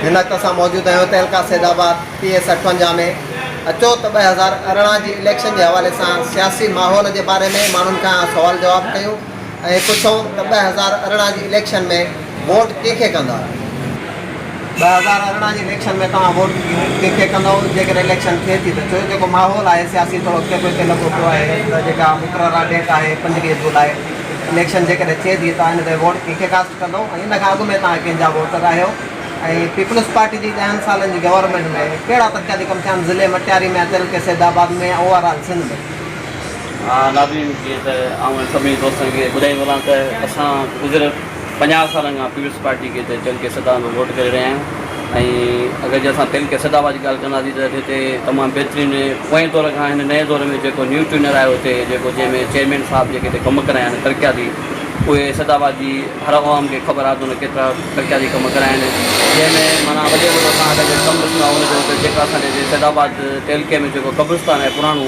هن وقت اسان موجود آهيون تعلقه سيد آباد پي ايس اٺونجا ۾ اچو ته ٻه هزار ارڙهن جي اليڪشن جي حوالي سان سياسي ماحول جي باري ۾ ماڻهن کان سوال جواب ڪيون ائين پڇو ته ٻه هزار ارڙهن جي اليڪشن ۾ ووٽ ڪنهن کي ڪندا؟ ٻه هزار ارڙهن جي اليڪشن ۾ توهان ووٽ ڪنهن کي ڪندؤ؟ جيڪڏهن اليڪشن ٿئي ٿي ته ڇو جيڪو ماحول آهي سياسي ٿورو اڳتي پوئتي لڳو پيو آهي ته جيڪا مقرره ڊيٽ آهي پنجويهه جولاء اليڪشن جيڪڏهن ٿئي ٿي توهان ان تي ووٽ ڪنهن کي ڪاسٽ ڪندؤ ۽ ان کان اڳ ۾ توهان ڪنهن جا ووٽر آهيو ۽ پيپلز پارٽي جي ڏهن سالن جي گورنمينٽ ۾ ڪهڙا ترقياتي ڪم ٿيا آهن ضلعي مٽياري ۾ اچل ڪي سيدآباد ۾ يا اوور آل سنڌ ۾؟ آء نادرين کي ته آئون ۽ سڀني دوستن کي ٻڌائي ٿو هلان ته اسان گذريل پنجاهه سالن کان پيپلز پارٽي کي ته چئن ڪيسٽان به ووٽ ڪري رهيا آهيون ۽ اگر جي اسان پهرين ڪيسٽا بعد جي ڳالهه ڪنداسين ته هتي تمام بهترين پوئين دور کان هن نئين دور ۾ جيڪو نيو ٽيونر آيو هتي جيڪو جنهن ۾ چيئرمين صاحب جيڪي هتي ڪم ڪرايا آهن ترقياتي اهي ڪيسٽا بعد جي هر عوام کي خبر آهي ته هن ڪيترا ترقياتي ڪم ڪرايا آهن جنهن ۾ معنيٰ وڏي وڏو اسان هتي ڪم ڏسندا هئون ته جيڪا اسان جي ڪيسٽا بعد تعلقي ۾ جيڪو قبرستان آهي پراڻو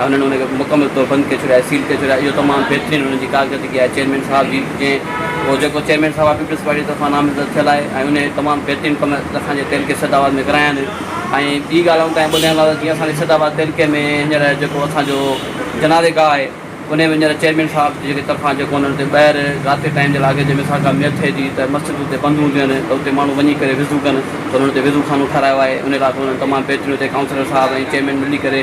هنن ان کي مڪمل طور بند ڪري ڇڏيو آهي، سيل ڪري ڇڏيو آهي، اهو تمام بهترين هنن جي ڪارڪردگي آهي چيئرمين صاحب جي جنهن اهو جيڪو چيئرمين صاحب آهي پيپلز پارٽي جي طرفان نامزد ٿيل آهي ۽ ان تمام بهترين ڪم اسان جي تعلقي سيد آباد ۾ ڪرايا آهن ۽ ٻي ڳالهه آئون تنهن ٻڌايان لاء جيئن اسان جي سيد آباد تعلقي ۾ هينئر جيڪو اسان جو جنازي گاهه آهي ان ۾ هينئر چيئرمين صاحب جي طرفان جيڪو انهن تي ٻاهر رات جي ٽائيم جي لاڳ جنهن ۾ سا ڪا ميت ٿئي ٿي ته مسجد اتي بند هونديون آهن ته اتي ماڻهو وڃي ڪري وضو ڪن ته انهن اتي وضو خانو ٺهرايو آهي ان لاء به انهن تمام بهترين اتي ڪائونسلر صاحب ۽ چيئرمين ملي ڪري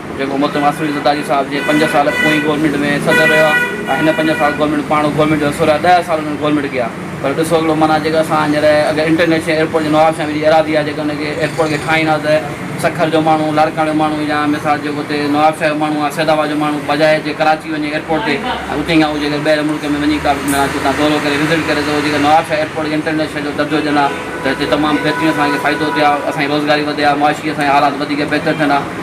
جيڪو محترم آصف علي زرداري صاحب جي پنج سال پوئين گورنمينٽ ۾ صدر رهيو آهي ۽ هن پنج سال گورنمينٽ پاڻ هو گورنمينٽ جو حصو رهيا ڏهه سال هن گورنمينٽ ڪيا پر ڏسو هڪڙو معنيٰ جيڪا اسان هينئر اگر انٽرنيشنل ايئرپورٽ جي نواب شاهه مير جي ارادي آهي جيڪا ان کي ايئرپورٽ کي ٺاهيندا ته سکر جو ماڻهو لاڙڪاڻي جو ماڻهو يا مثال جيڪو هتي نواب شاهه جو ماڻهو آهي سيدآباد جو ماڻهو بجاء جي ڪراچي وڃي ايئرپورٽ تي ۽ اتي کان هو جيڪا ٻيهر ملڪ ۾ وڃي ڪا به معنيٰ جتان دورو ڪري وزٽ ڪري ته هو جيڪا نواب شاهه ايئرپورٽ کي انٽرنيشنل جو درجو ڏين ها ته هتي تمام بهترين اسان کي فائدو ٿئي ها اسان جي روزگاري وڌي ها معاشي اسان جا حالات وڌيڪ بهتر ٿين ها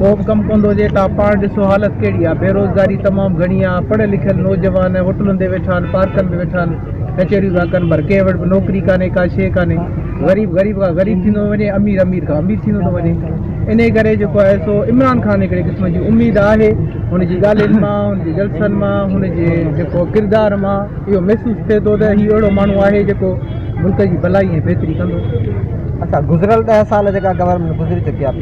ڪو به ڪم ڪوندو هجي تان پاڻ ڏسو حالت ڪهڙي آهي بيروزگاري تمام گهڻي آهي پڙهيل لکيل نوجوان هوٽلن تي ويٺا آهن پارڪن ۾ ويٺا آهن ڪچهريون ٿا ڪن پر ڪنهن وٽ به نوڪري ڪانهي ڪا شيء ڪانهي غريب غريب کان غريب ٿيندو ٿو وڃي امير امير کان امير ٿيندو ٿو وڃي انهي ڪري جيڪو آهي سو عمران خان هڪڙي قسم جي اميد آهي هن جي ڳالهين مان هن جي جلسن مان هن جي جيڪو ڪردار مان اهو محسوس ٿئي ٿو ته هي اهڙو ماڻهو آهي جيڪو ملڪ جي ڀلائي ۽ بهتري ڪندو اسان گذريل ڏهه سال جيڪا گورنمينٽ گذري چڪي آهي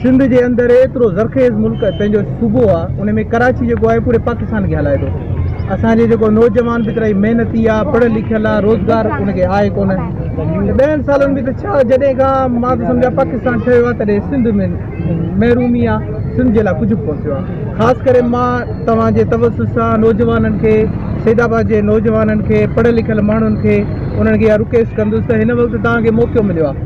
سنڌ جي اندر ايترو زرخيز ملڪ پنهنجو صوبو آ ان ۾ ڪراچي جيڪو آهي پوري پاڪستان کي هلائي ٿو اسان جي جيڪو نوجوان به ڪرائي محنتي آ پڙهيل لکيل آ روزگار ان کي آهي ڪونه ته ڏهن سالن ۾ ته ڇا جڏهن کان مان ته سمجهان پاڪستان ٺهيو آ تڏهن سنڌ ۾ محرومي آ سنڌ جي لاء ڪجهه به ڪونه ٿيو آ خاص ڪري مان توهان جي توسط سان نوجوانن کي سيد آباد جي نوجوانن کي پڙهيل لکيل ماڻهن کي انهن کي اها رڪويسٽ ڪندس ته هن وقت توهان کي موقعو مليو آ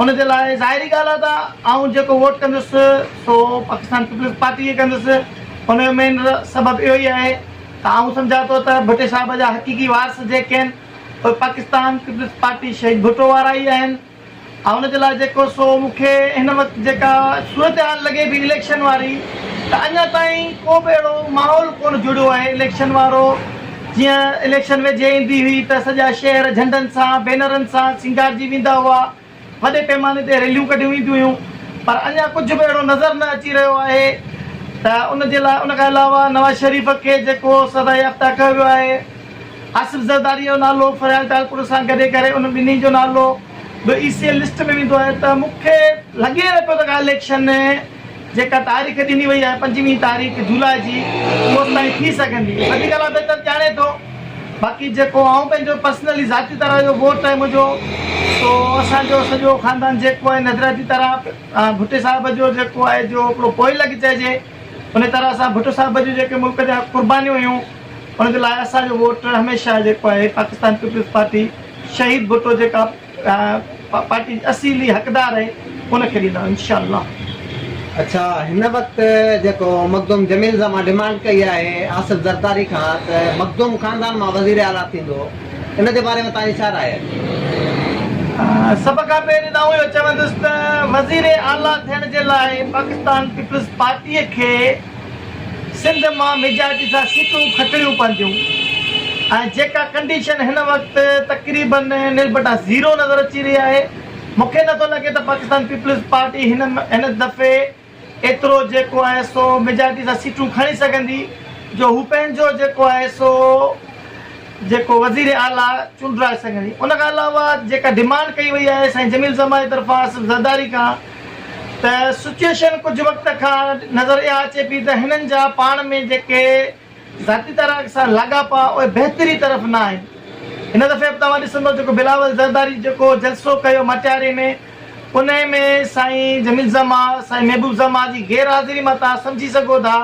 ان جي لاء ظاهري ڳالهه آهي ته آئون جيڪو ووٽ ڪندس سو پاڪستان پيپلز پارٽي کي ڪندس. ان جو مين سبب اهو ئي آهي ته آئون سمجهان ٿو ته ڀٽي صاحب جا حقيقي وارث جيڪي آهن اهي پاڪستان پيپلز پارٽي شهيد ڀٽو وارا ئي آهن. آئون جي لاء جيڪو سو مون کي هن وقت جيڪا صورتحال لڳي پئي اليڪشن واري ته اڃا تائين ڪو به اهڙو ماحول ڪونه جڙيو آهي اليڪشن وارو. جيئن اليڪشن ويجهي ايندي هئي ته سڄا شهر جهنڊن سان، بينرن سان سينگارجي ويندا هئا، وڏي پيماني تي ريليون ڪڍيون وينديون هيون پر اڃا ڪجهه به اهڙو نظر نه اچي رهيو آهي ته ان جي لاء ان کان علاوه نواز شريف کي جيڪو سزا يافته ڪيو ويو آهي آصف زرداري جو نالو فريال ٽالپر سان گڏي ڪري ان ٻنهي جو نالو به اي سي ايل لسٽ ۾ ويندو آهي ته مون کي لڳي نه پيو ته ڪا اليڪشن جيڪا تاريخ ڏني وئي آهي پنجويهه تاريخ جولاء جي اوستائين ٿي سگهندي وڌيڪ الله بهتر ڄاڻي ٿو باقي جيڪو آئون پنهنجو پرسنلي ذاتي طرح جو ووٽ آهي منهنجو سو اسان جو سڄو خاندان جيڪو آهي نظرياتي طرح ڀٽي صاحب جو جيڪو آهي جو هڪڙو پوئي لڳ چئجي ان طرح سان ڀٽو صاحب جون جيڪي ملڪ جا قربانيون هيون ان جي لاء اسان جو ووٽ هميشه جيڪو آهي پاڪستان پيپلز پارٽي شهيد ڀٽو جيڪا پارٽي جي اصيلي حقدار آهي ان کي ڏيندا انشاء الله. اڇا هن وقت جيڪو مخدوم جميل زمان ڊمانڊ ڪئي آهي آصف زرداري کان ته مخدوم خاندان مان وزير اعليٰ ٿيندو ان جي باري ۾ توهان جي ڇا راء آهي؟ سڀ کان پهرين ته آئون اهو چوندس ته وزير اعليٰ ٿيڻ جي لاء پاڪستان پيپلز پارٽي کي سنڌ مان ميجارٽي سان سيٽون کٽڻيون پونديون ۽ جيڪا ڪنڊيشن هن وقت تقريباً نلبٽا زيرو نظر اچي رهي آهي، مون کي نٿو لڳي ته پاڪستان پيپلز پارٽي هن هن دفعي ايترو جيڪو آهي سو ميجارٽي سان سيٽون کڻي سگهندي جو هو پنهنجو جيڪو آهي سو جيڪو وزير اعليٰ چونڊرائي سگهندي. ان کان علاوه جيڪا ڊمانڊ ڪئي وئي آهي سائين جميل صاحب ماهي طرفان آصف زرداري کان ته سچوئيشن ڪجهه وقت کان نظر اها اچي پئي ته هنن جا پاڻ ۾ جيڪي ذاتي تارڪ سان لاڳاپا اهي بهتري طرف نه آهن. هن دفعي به توهان ڏسندئو جيڪو بلاول زرداري جيڪو جلسو ڪيو مٽياري ۾ انهي ۾ سائين جميل زمان، سائين محبوب زمان جي غير حاضري مان توهان سمجهي سگهو ٿا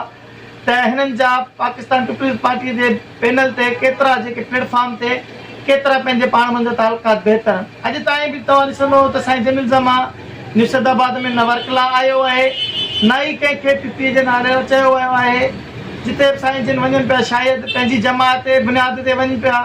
ته هنن جا پاڪستان پيپلز پارٽيء جي پينل تي ڪيترا جيڪي پليٽ فارم تي ڪيترا پنهنجي پاڻ منجهان تعلقات بهتر آهن اڄ تائين به توهان ڏسندئو ته سائين جميل زما نيو سيد آباد ۾ نه ورڪلا آيو آهي نه ئي ڪنهن کي پي پي جي نالي سان چيو ويو آهي جتي به سائين جن وڃن پيا شايد پنهنجي جماعتي بنياد تي وڃن پيا.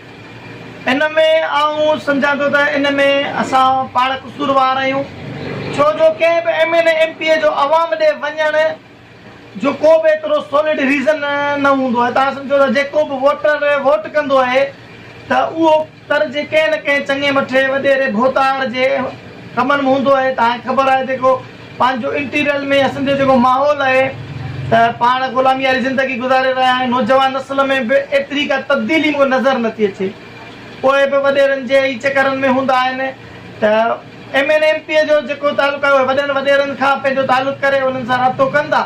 ان ۾ آئون سمجهان ٿو ته ان ۾ اسان پاڻ قصوروار آهيون ڇو جو ڪنهن به M N A M P A جو عوام ڏي وڃڻ جو ڪو به ايترو سولڊ ريزن نه هوندو آهي توهان سمجهو ته جيڪو به ووٽر ووٽ ڪندو آهي ته اهو تر جي ڪنهن نه ڪنهن چڱي مٺي وڏيري ڀوتار جي ڪمن ۾ هوندو آهي توهان کي خبر آهي جيڪو پنهنجو انٽيريل ۾ اسين جو جيڪو ماحول آهي ته پاڻ غلامي واري زندگي گذاري رهيا آهيون نوجوان نسل ۾ به ايتري ڪا تبديلي مون کي نظر نٿي اچي پوء به وڏيرن جي ئي چڪرن ۾ هوندا آهن ته ايم اين ايم پي جو جيڪو تعلق آهي اهي وڏن وڏيرن کان پنهنجو تعلق ڪري انهن سان رابطو ڪندا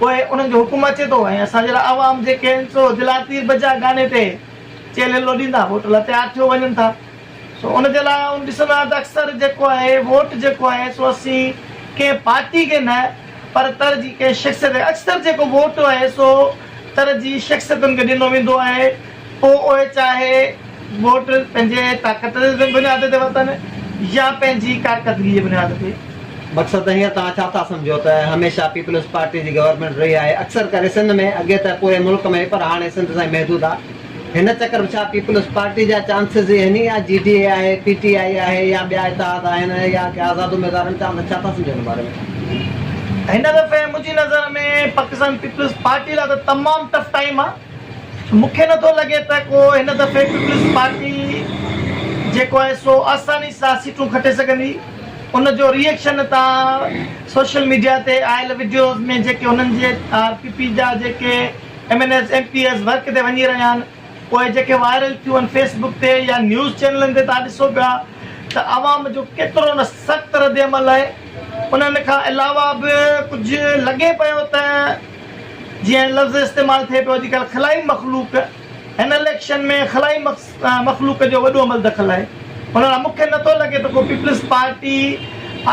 پوء انهن جو حڪم اچي ٿو ۽ اسان جهڙا عوام جيڪي آهن سو دلاتير بجا گاني تي چيلهه لڏيندا ووٽ لاء تيار ٿيو وڃن ٿا. سو ان جي لاء آئون ڏسندو آهيان ته اڪثر جيڪو آهي ووٽ جيڪو آهي سو اسين ڪنهن پارٽي کي نه پر ترجيح ڪنهن شخصيت کي اڪثر جيڪو ووٽ آهي سو ترجيح شخصيتن کي ڏنو ويندو آهي پوء اهي چاهي ووٽ پنهنجي طاقت جي بنياد تي ورتن يا پنهنجي ڪارڪردگي جي بنياد تي. مقصد هينئر توهان ڇا ٿا سمجهو ته هميشه پيپلز پارٽي جي گورنمينٽ رهي آهي اڪثر ڪري سنڌ ۾ اڳي ته پوري ملڪ ۾ هئي پر هاڻي سنڌ تائين محدود آهي. هن چڪر به ڇا پيپلز پارٽي جا چانسز ئي هين ئي يا جي ڊي اي آهي، پي ٽي آئي آهي يا ٻيا اتحاد آهن يا ڪي آزاد اميدوارن چانس ڇا ٿا سمجهو هن باري ۾؟ هن دفعي منهنجي نظر ۾ پاڪستان پيپلز پارٽي لاء ته تمام ٽف ٽائيم آ مون کي نه ٿو لڳي ته ڪو هن دفعي پيپلز پارٽي جيڪو آهي سو آساني سان سيٽون کٽي سگهندي ان جو ري ايڪشن تان سوشل ميڊيا تي آيل وڊيوز ۾ جيڪي هنن جي آر پي پي جا جيڪي M N S M P S work تي وڃي رهيا آهن پوء جيڪي وائرل ٿيون آهن فيس بڪ تي يا نيوز چينلن تي توهان ڏسو پيا ته عوام جو ڪيترو نه سخت رد عمل آهي انهن کان علاوه به ڪجهه لڳي پيو ته جيئن لفظ استعمال ٿئي پيو اڄڪلهه خلائي مخلوق هن اليڪشن ۾ خلائي تان مخلوق جو وڏو عمل دخل آهي ڀلا مون کي نٿو لڳي ته ڪو پيپلز پارٽي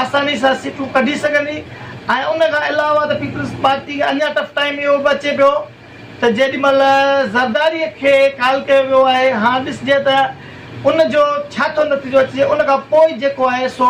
آساني سان سيٽون ڪڍي سگهندي ۽ ان کان علاوه ته پيپلز پارٽي کي اڃا ٽف ٽائيم اهو به اچي پيو ته جيڏي مهل زرداري کي ڪال ڪيو ويو آهي هاڻ ڏسجي ته ان جو ڇا ٿو نتيجو اچجي ان کان پوء جيڪو آهي سو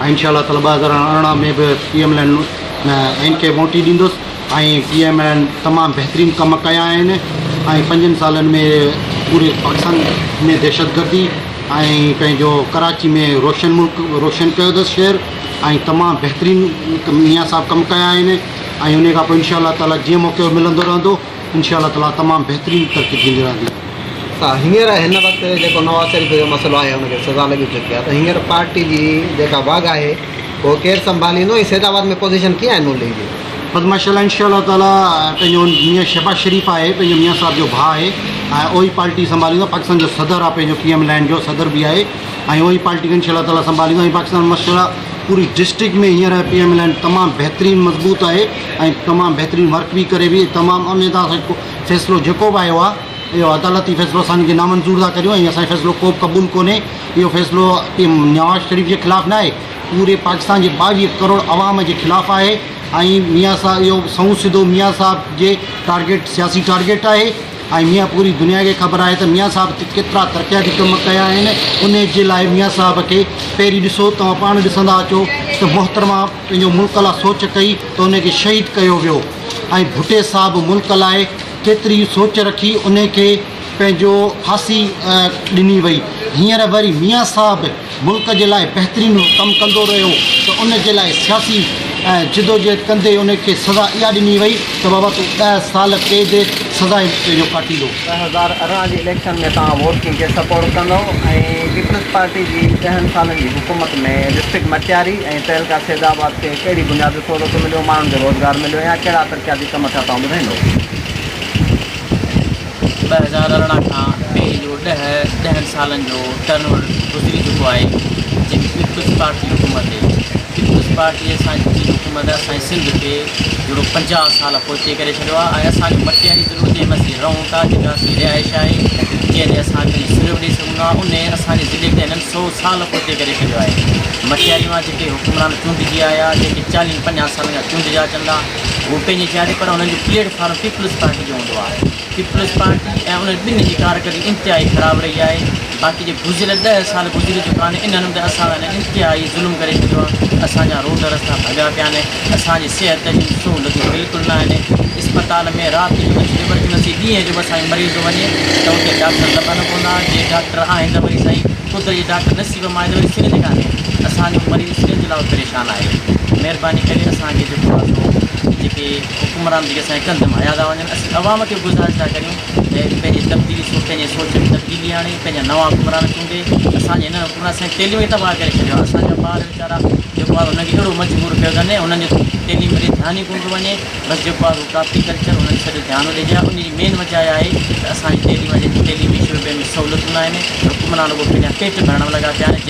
۽ انشاء الله تعالي ٻه هزار ارڙهن ۾ به پي ايم ايل اين کي موٽي ڏيندس ۽ پي ايم ايل اين تمام بهترين ڪم ڪيا آهن ۽ پنجن سالن ۾ پوري پاڪستان ۾ دهشتگردي ۽ پنهنجو ڪراچي ۾ روشن ملڪ روشن ڪيو اٿس شهر ۽ تمام بهترين ميان صاحب ڪم ڪيا آهن ۽ ان کان پوء انشاء الله تعالي جيئن موقعو ملندو رهندو انشاء الله تعالٰي تمام بهترين ترقي ٿيندي رهندي. ته هينئر هن وقت جيڪو نواز شريف جو مسئلو آهي ان کي سزا لڳي چڪي آهي ته هينئر پارٽي جي جيڪا واڳ آهي اهو ڪير سنڀاليندو ۽ سيد آباد ۾ پوزيشن ڪيئن آهي نون ليگ جي؟ بس ماشاء الله انشاء الله تعالٰي پنهنجو ميان شهباز شريف آهي پنهنجو ميان صاحب جو ڀاء آهي ۽ اهو ئي پارٽي سنڀاليندو پاڪستان جو صدر آهي پنهنجو پي ايم لينڊ جو صدر به آهي ۽ اهو ئي پارٽي کي انشاء الله تعالٰي سنڀاليندو ۽ پاڪستان ماشاء الله پوري ڊسٽرڪٽ ۾ هينئر پي ايم لينڊ تمام بهترين مضبوط آهي ۽ تمام بهترين ورڪ به ڪري وئي تمام اميد آ اسان فيصلو جيڪو به آيو آ اهو عدالتي فيصلو اسان کي نامنظور ٿا ڪريون ۽ اسان فيصلو ڪو به قبول ڪونهي اهو فيصلو نواز شريف جي خلاف نه آهي پوري پاڪستان جي ٻاويهه ڪروڙ عوام جي خلاف آهي ۽ ميان صاحب اهو سنئون سڌو ميان صاحب جي ٽارگيٽ سياسي ٽارگيٽ آهي ۽ ميان پوري دنيا کي خبر آهي ته ميان صاحب ڪيترا ترقياتي ڪم ڪيا آهن ان جي لاء ميان صاحب کي پهرين ڏسو توهان پاڻ ڏسندا اچو ته محترمه پنهنجو ملڪ لا سوچ ڪئي ته انهي کي شهيد ڪيو ويو ۽ ڀٽي صاحب ملڪ لاء ڪيتري سوچ رکي انهي کي پنهنجو ڦاسي ڏني وئي هينئر وري ميان صاحب ملڪ جي لاء بهترين ڪم ڪندو رهيو ته ان جي لاء سياسي جدوجهد ڪندي انهي کي سزا اها ڏني وئي ته بابا تون ڏهه سال قيد سزا پنهنجو ڪاٽيندو. ٻه هزار ارڙهن جي اليڪشن ۾ توهان ووٽ ڪنهن کي سپورٽ ڪندو ۽ پيپلز پارٽي جي ڏهن سالن جي حڪومت ۾ ڊسٽرڪٽ مٽياري ۽ تعلقه سيد آباد کي ڪهڙي بنياد تي سهولتون مليون ماڻهن کي روزگار مليو يا ڪهڙا ترقياتي ڪم ٿيا توهان ٻڌائيندو اچي ڪري ڇڏيو آهي ۽ اسان کي مٽيء جي ضرورت جنهن ۾ اسين رهون ٿا جنهن ۾ اسانجي رهائش آهي جنهن تي اسان پنهنجي سر به ڏئي سگهون ٿا انهيء اسانجي ضلعي کي هنن سو سال پوئتي ڪري ڇڏيو آهي مٽياري مان جيڪي حڪمران چونڊجي آيا جيڪي چاليهن پنجاهن سالن کان چونڊجا اچن ٿا هو پنهنجي جاء تي پر هنن جو پليٽ فارم پيپلز پارٽي جو هوندو آهي پيپلز پارٽي ۽ انهن ٻنهي جي ڪارڪردگي انتهائي خراب رهي آهي، باقي جي گذريل ڏهه سال گذري چڪا آهن انهن ۾ ته اسان سان انهن انتهائي ظلم ڪري ڇڏيو آهي، اسان جا روڊ رستا ڀڳا پيا آهن، اسان جي صحت جون سهولتون بلڪل نه آهن، اسپتال ۾ رات جو اچ ايمرجنسي ڏينهن جو به اسان جو مريض وڃي ته اتي ڊاڪٽر لڀن ڪو نه، جي ڊاڪٽر آهن ته وري سائين قدرت جي ڊاڪٽر نصيب ۾ آهي ته وري سرنج ڪانهي، اسان جو مريض سرنج لاء پريشان آهي، مهرباني ڪري اسان کي جيڪو آهي سو جيڪي. حڪمران جيڪي اسان جي ڪنڌ مان هنيا ٿا وڃن، اسين عوام کي به گذارش ٿا ڪريون ته پنهنجي تبديلي سوچ، پنهنجي سوچ ۾ تبديلي آڻي، پنهنجا نوان حڪمران چونڊي، اسان جي هنن حڪمرانن اسان جي تعليم کي تباهه ڪري ڇڏيو آهي، اسان جا ٻار ويچارا جيڪو آهي انهن کي اهڙو مجبور ڪيو اٿن انهن جي تعليم ڏي ڌيان ئي ڪونه ٿو وڃي، بس جيڪو آهي اهو ڪاپي ڪلچر انهن تي سڄو ڌيان ٿو ڏجي ها، ان جي مين وجه اها آهي ته اسان جي تعليم جي تعليمي شعبي ۾ سهولتون نه آهن، حڪمران رڳو پنهنجا پيٽ ڀرڻ ۾ لڳا پيا آهن.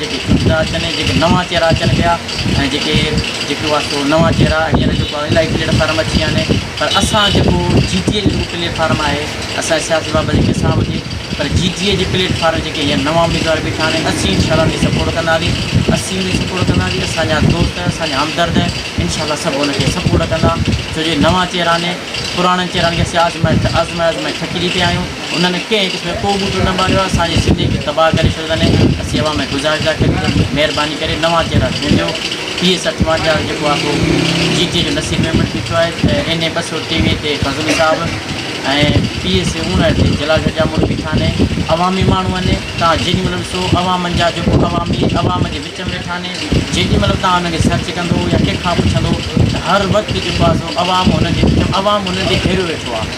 جيڪي شروع ٿا اچن ۽ جيڪي نوان چهرا اچن پيا ۽ جيڪي جيڪي هئا سو نوان چهرا هينئر جيڪو آهي الائي پليٽ فارم اچي ويا آهن پر اسان جيڪو جي ٽي اي جو پليٽ فارم آهي اسان سياسي بابت جيڪي اسان وٽي پر جي ٽي اي جي پليٽ فارم جيڪي هينئر نوان اميدوار بيٺا آهن اسين انشاء الله انهن کي سپورٽ ڪنداسين اسين انهن کي سپورٽ ڪنداسين اسان جا دوست اسان جا همدرد انشاء الله سڀ ان کي سپورٽ ڪندا ڇو جو نوان چهرا آهن پراڻن چهرن کي اسين آزمائي آزمائي آزمائي ٿڪجي پيا آهيون انهن ڪنهن هڪ کي ڪو ٻوٽو نه ماريو آهي اسان جي سنڌين کي تباهه ڪري ڇڏيو اٿن اسين اوهان ۾ گذارش ٿا ڪريون ته مهرباني ڪري نوان چهرا چونڊيو پي ايس اٺوانجاهه جيڪو آهي سو جي ٽي جو نصير ميمڻ بيٺو آهي ته اين اي ٻه سؤ ٽيويهه تي فضل صاحب ۽ پي ايس اوڻهٺ تي جلال شاهه ڄامڙو بيٺا آهن عوامي ماڻهو آهن توهان جيڏي مهل ڏسو عوام جا جيڪو عوامي عوام جي وچ ۾ ويٺا آهن جيڏي مهل توهان انهن کي سرچ ڪندو يا ڪنهن کان پڇندو ته هر وقت جيڪو آهي سو عوام انهن جي وچ ۾ عوام انهن تي گهيريو ويٺو آهي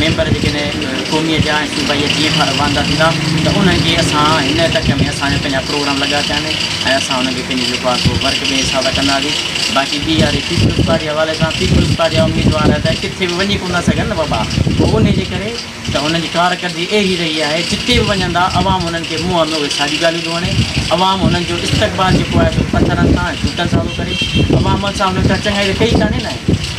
ميمبر جيڪڏهن قومي جا ۽ صوبائيء جي جيئن کان رواندا ٿيندا ته انهن کي اسان هن تڪ ۾ اسان جا پنهنجا پروگرام لڳا پيا آهن ۽ اسان انهن کي پنهنجي جيڪو آهي سو ورڪ ٻئي حساب سان ڪنداسين باقي ٻي واري پيپلز پارٽي حوالي سان پيپلز پارٽي جا اميدوار ته ڪٿي به وڃي ڪونه ٿا سگهن نه بابا پوء انهي جي ڪري ته هنن جي ڪارڪردگي اهڙي رهي آهي جتي به وڃندا عوام هنن کي منهن ۾ اهي ساڳيون ڳالهيون ٿو هڻي عوام هنن جو استقبال جيڪو آهي سو پٿرن سان ۽ جوتن سان ٿو ڪري عوام سان هنن ڪا چڱائي ته ڪئي ڪانهي نه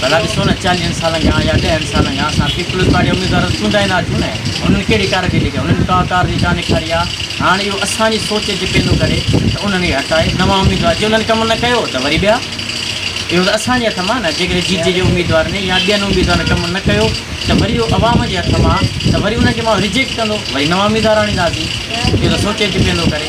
ڀلا ڏسو نه چاليهن سالن کان يا ڏهن سالن کان اسان پيپلز پارٽي جا اميدوار ته چونڊيا ئي ناهن ٿيون نه انهن ڪهڙي ڪارڪردگي ڪئي انهن ڪا ڪارڪردگي ڪانه ڏيکاري آ هاڻ اهو اسان جي سوچ جي پيندو ڪري ته انهن کي هٽائي نوان اميدوار جي انهن ڪم نه ڪيو ته وري ٻيا اهو ته اسان جي هٿ مان آ نه جيڪڏهن جي جي جي اميدوار ۾ يا ٻين اميدوارن ڪم نه ڪيو ته وري اهو عوام جي هٿ مان آ ته وري انهن کي ماڻهو رجيڪٽ ڪندو وري نوان اميدوار آڻينداسين اهو ته سوچي اچ پيندو ڪري.